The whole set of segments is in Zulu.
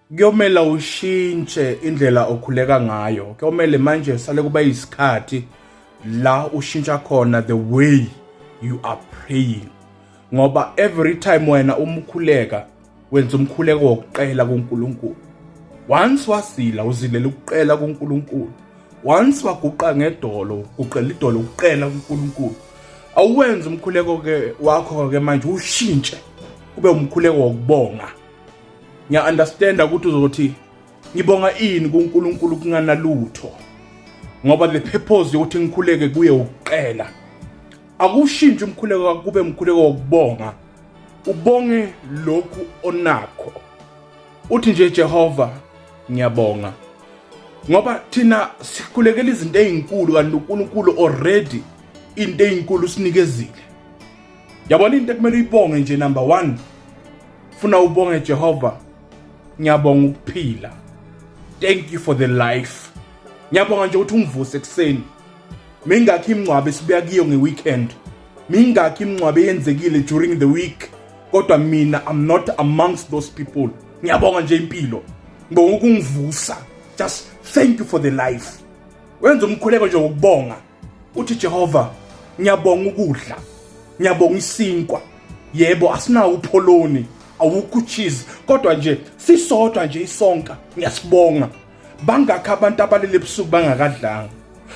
kuyomela ushintshe indlela okhuleka ngayo kuyomele manje sale kuba isikhathi la ushintsha khona the way you are praying ngoba every time wena umkhuleka wenza umkhuleko wokuqela kuNkulunkulu once wasila uzilela ukuqela kuNkulunkulu once waguqa ngedolo uqela idolo ukuqela kuNkulunkulu awuwenza umkhuleko ke wakho ke manje ushintshe kube umkhuleko wokubonga ngiya understand ukuthi uzothi ngibonga ini kuNkulunkulu kunganalutho ngoba the purpose yokuthi ngikhuleke kuye ukuqela akushintshi umkhuleko kube umkhuleko wokubonga ubonge lokhu onakho uthi nje Jehova ngiyabonga ngoba thina sikhulekela izinto ezinkulu kanti uNkulunkulu already into ezinkulu sinikezile yabona into ekumele uyibonge nje number 1 funa ubonge Jehova ngiyabonga ukuphila thank you for the life ngiyabonga nje ukuthi ungivuse ekuseni mingakhi imngcwabe sibuya kiyo ngeweekend mingakhi imngcwabe yenzekile during the week kodwa mina i'm not amongst those people ngiyabonga nje impilo ngibonga ukungivusa just thank you for the life wenza umkhuleko nje ngokubonga uthi Jehova ngiyabonga ukudla ngiyabonga isinkwa yebo asinawo upholoni awukho cheese kodwa nje sisodwa nje isonka ngiyasibonga bangakho abantu abalele ebusuku bangakadlanga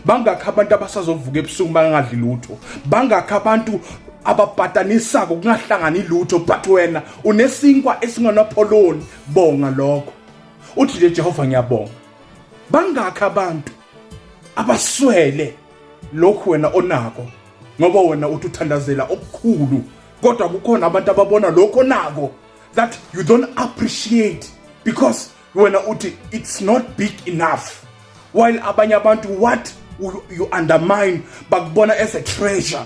bangakho abantu abasazovuka ebusuku bangadli lutho bangakho abantu ababhatanisako kungahlangani lutho but wena unesinkwa esinganapholoni bonga lokho uthi nje Jehova ngiyabonga bangakho abantu abaswele lokhu wena onako ngoba wena uthi uthandazela okukhulu kodwa kukhona abantu ababona lokho nako that you don't appreciate because wena uthi it's not big enough while abanye abantu what you undermine bakubona as a treasure